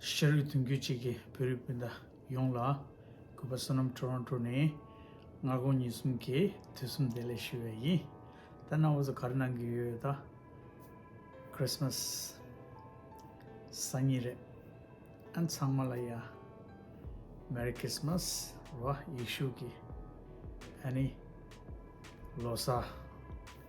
ཤ་རུས་དོན་གྱུར་ཅིག་གི་བོད་རིགས་སྤུན་ཟླ་ཡོངས་ལ་གུས་པ་བསོད་ནམས Toronto ནས་སྔ་དགོང་ཉིན་གསུམ་གྱི་དུས་གསུམ་བདེ་ལེགས་ཞུ་བས་ཡིན་ད་གནའ་བོ་ཚོ་ག་རེ་གནང་གི་ཡོད་ད Christmas སང་ཉིན་རེད་ཨ་ཚང་མ་ལ་ཡང Merry Christmas རོ་ཡིག་ཤུག་གི་ཨ་ནི་ལོ་སར།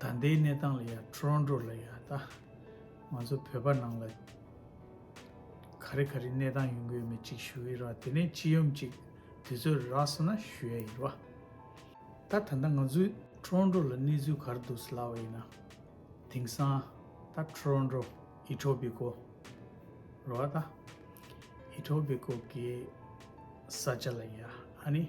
ད་ལྟའི་གནས་སྟངས་ལ་ཡ Toronto ལ་ཡ་ད་ང་ཚོ་བོད་པ་ནང་ལ་ག་རེ་ག་རེ་གནས་སྟངས་ཡོང་གི་ཡོད་མེད་ཅིག་ཞུ་ཡི་རོ་དེ་ནས་སྤྱི་ཡོམ་ཅིག་དེ་ཚོ་ར་སོ་ན་ཞུ་ཡ་ཡི་རོ། ད་ད་ལྟ་ང་ཚོའི Toronto ལ་གནས་ཚུལ་གར་འདུག་སླ་བ་ཡིན་ན་དེང་སང་ད Toronto Etobico རོ་ད Etobico གི་ས་ཆ་ལ་ཡ་ཨ་ནི་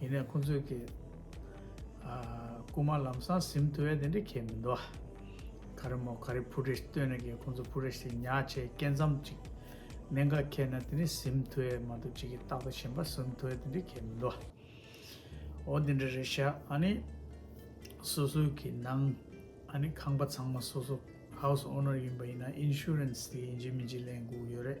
ཡིན་ནས་ཁོང་ཚོས་ཀྱི། རྐུ་མ་ལམ་སང་ཟིམ་དུ་བས་དེ་འདྲ་ཁྱད་མི་འདུག་ཨ། ག་རེ་མོ་ག་རེ་ཕུ་རེ་སྟོན་ནས་ཀྱི་ཁོང་ཚོ་ཕུ་རེ་ཞིག་ཉག་ཆེ་སྐེ་མཚམས་ཅིག། མེ་འགའ་ཁྱེར་ན་དེ་འདྲའི་ཟིམ་དུ་བས་མ་འདུག་ཅིག་གི་སྟག་དང་ཞིམ་པ་ཟིམ་དུ་བས་དེ་འདྲའི་ཁྱད་མི་འདུག་ཨ། འོ་དེ་འདྲ་རེད་ཤག་ཨ་ནི། སོ་སོའི་ཀྱི་ནང། ཨ་ནི་ཁང་པ་ཚང་མ་སོ་སོ། House Owner། ཡིན་པ་ཡིན་ན Insurance དེ་ཡིན་གྱི་མིན་གྱི་ལན་སྒུག་ཡོད་རེད།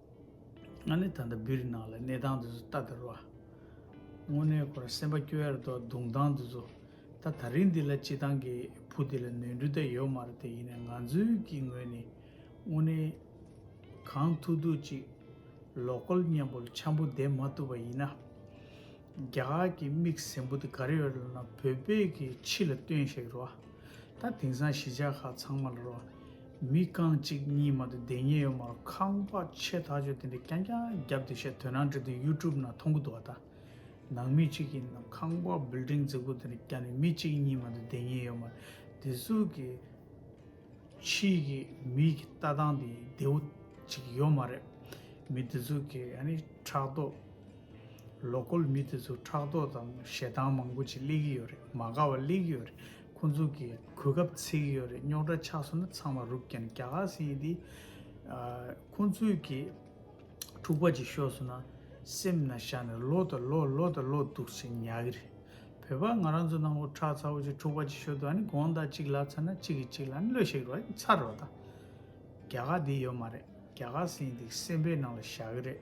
ང་ནི་ད་ལྟ་སྦིར་ནག་ལ་གནས་སྟངས་འདི་ཚོ་ལྟ་དར་བ། དངོས་གནས་ཁོ་རང་སེམས་པ་སྐྱོ་ཡར་འདུག་གདུང་སྟངས་འདི་ཚོ། ད་ད་རིང་འདི་ལ་སྤྱི་བཏང་གི་བུ་འདི་ལ་ནོན་འགྲུལ་ད་ཡོད་མ་རེད་དེ་ཡིན་ན་ང་ཚོའི་གི་ངོས་ནས་དངོས་གནས་གང་ཐུག་ཐུག་ཅིག་ལོག་ཀོལ་སྙན་པོ་འཆམ་པོ་འདེབས་མ་ཐུབ་པ་ཡིན་ན། རྒྱ་གར་གི་མིག་ཟེམ་པོ་འདི་ག་རེ་ཡོད་རེད་ལབ་ན་བོད་པའི་གི་ཕྱི་ལ་སྟོན་ཤེས་རོ། ད་དེང་སང་གཞིས་ཆགས་ཁག་ཚང་མ་ལ་རོ། མི་རྐང་གཅིག་གཉིས་མ་དེ་བདེན་གཉིས་ཡོད་མ་རུང་ཁང་པ་ཆེ་ཐག་ཆོད་དེ་འདྲས་རྐྱང་རྐྱང་བརྒྱབ་དེ་བཤད་དོན་ནང་འདྲི་དུས YouTube ན་མཐོང་གི་འདུག་ཨ་ད་ནང་མི་གཅིག་གིས་ནམ་ཁང་པ Building འཛུགས་སྐོར་དེ་འདྲས་རྐྱང་ནས་མི་གཅིག་གཉིས་མ་དེ་བདེན་གཉིས་ཡོད་མ་རེད་དེ་གཟུགས་ཀྱི་ཕྱིའི་གི་མིའི་གི་ལྟ་སྟངས་དེ་བདེ་བོ་གཅིག་ཡོད་མ་རེད་མི་དེ་ཚོ་གི་ཨ་ནི་ཕྲག་དོག Local མི་དེ་ཚོ་ཕྲག་དོག་དང་ཞེ་སྡང་མང་པོ་ཅིག་སླེབས་ཀྱི་ཡོད་རེད་མ་དགའ་བ་སླེབས་ཀྱི་ཡོད་རེད། ཁོ་ཚོ་གི་གོ་སྐབས་ཚིག་གི་ཡོད་རེད་རྙོག་དྲ་ཆགས་སོང་ན་ཚང་མ་རུབ་ཀྱང་རྒྱ་གར་སེང་ཡིན་དེ། ཁོ་ཚོས་གི་འཁྲུག་པ་ཅིག་ཤོར་སོང་ན་སེམས་ན་བཞག་ནས་ལོ་དང་ལོ་ལོ་དང་ལོ་འདུག་ཚེ་ཉག་གི་རེད། བོད་པ་ང་རང་ཚོ་ནང་པོ་ཁྲག་ཚ་བོ་ཅིག་འཁྲུག་པ་ཅིག་ཤོར་དུས་ཨ་ནི་དགོངས་དག་ཅིག་ལབ་ཚར་ན་གཅིག་གིས་གཅིག་ལ་ཨ་ནི་བློས་ཤེག་རོགས་ཨ་ཚར་རོགས་དང། རྒྱ་གར་འདི་ཡོད་མ་རེད་རྒྱ་གར་སེང་ཡིན་དེ་སེམས་པའི་ནང་ལ་བཞག་གི་རེད།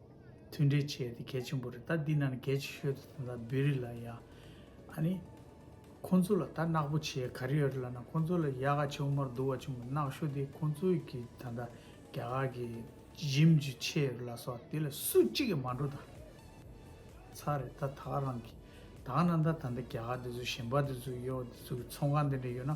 མཐུན་འབྲེལ་བྱས་ཏེ་གལ་ཆེན་པོ་རེད་ད་འདི་ན་ནི་གལ་ཆེ་ཤོས་དེ་ད་བེ་རི་ལ་ཡ་ཨ་ནི་ཁོང་ཚོ་ལ་ད་གནག་པོ་བྱས་ག་རེ་ཡོད་རེད་ལ་ན་ཁོང་ཚོ་ལ་ཡ་ག་ཆེ་བོ་མར་འདུག་བ་ཆེན་པོ་གནག་ཤོ་དེ་ཁོང་ཚོ་གི་ད་ད་རྒྱ་གར་གི་གཞིམ་གྱི་ཆེ་ཡོད་རེད་ལ་སོགས་དེ་ལ་སུ་གཅིག་གི་མ་འགྲོ་ད་ཚར་རེད་ད་ད་ག་རང་གི་ད་ག་ན་ད་ད་ད་རྒྱ་གར་དེ་ཚོ་གཞིམ་པ་དེ་ཚོ་ཡོད་བ་དེ་ཚོ་གི་ཚོང་ཁང་དེ་འདྲ་ཡོད་ན།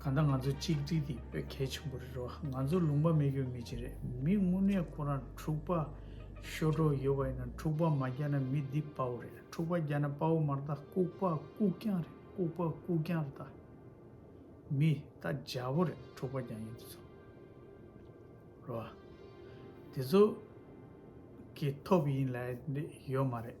གང་ལྟར་ང་ཚོ་གཅིག་སྒྲིལ་འདི་དཔེ་གལ་ཆེན་པོ་རེད་རོ། ང་ཚོ་ལུང་པ་མེད་ཀྱོ་མི་གཅིག་རེད་མི་དངུལ་གནས་ཁོ་རང་འཁྲུག་པ་ཤོར་གྲོགས་ཡོད་པ་ཡིན་ན་འཁྲུག་པ་མ་རྒྱག་ན་མི་འདི་དཔའ་བོ་རེད་འཁྲུག་པ་རྒྱག་ན་དཔའ་བོ་མ་རེད་ད་ལྐུག་པ་ལྐུག་རྐྱང་རེད་ལྐུག་པ་ལྐུག་རྐྱང་རེད་ད་མི་ད་རྒྱ་བོ་རེད་འཁྲུག་པ་རྒྱག་ཡིན་དེ་ཚོ་རོ། དེ་ཚོ་གི་ཐོབ་ཡིན་ལེ་ཡོད་མ་རེད།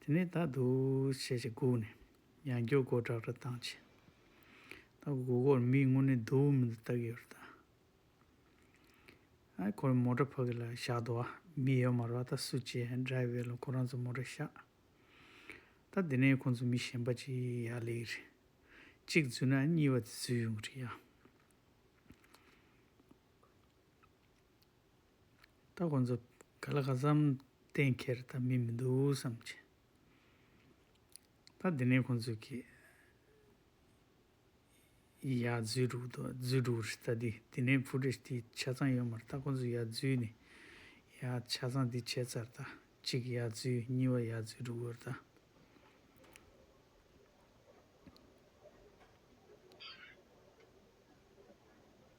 དེ་ནས་ད་དུ་ཞེས་བྱ་བསྒུགས་ནས་ཡང་སྐྱོ་སྒོ་བྲག་སྒྲ་གདངས་ཆེ། ད་སྒུག་གོར་མིག་སྔུར་ནས་དུ་བུ་མི་འདུག་བལྟ་གི་ཡོད་རེད་ད། ཨ་ཁོ་རེ་མོ་ཏྲ་ཕ་གི་ལ་བཞག་འདུག་ཨ་མི་ཡོད་མ་རེད་ད་སུ་ཅེས་སྒྲའི་བས་ལ་ཁོ་རང་ཚོ་མོ་ཏྲ་བཞག། ད་དེ་ནས་ཁོང་ཚོ་མི་གཞན་པ་ཅིག་ཡ་ལེ་གི་རེད། གཅིག་བརྫུས་ན་གཉིས་པ་དེ་བརྫུས་ཡོང་གི་རེད་ཡ། ད་ཁོང་ཚོ་ག་ལ་ག་བསམ་གཏན་འཁེལ་ད་མི་མི་འདུག་བསམ་གྱི། ད་དེ་ནས་ཁོང་ཚོས་ཀྱི། ཡ་རྫུས་འགྲོ་གི་འདུག་རྫུས་འགྲོ་རེད་ད་དེ་དེ་ནས་བུ་རེ་དེ་ཆ་ཚང་ཡོད་མ་རེད་ད་ཁོང་ཚོ་ཡ་རྫུས་ནས། ཡ་ཆ་ཚང་དེ་བྱས་ཚར་ད་གཅིག་ཡ་རྫུས་གཉིས་བ་ཡ་རྫུས་འགྲོ་གི་རེད་ད།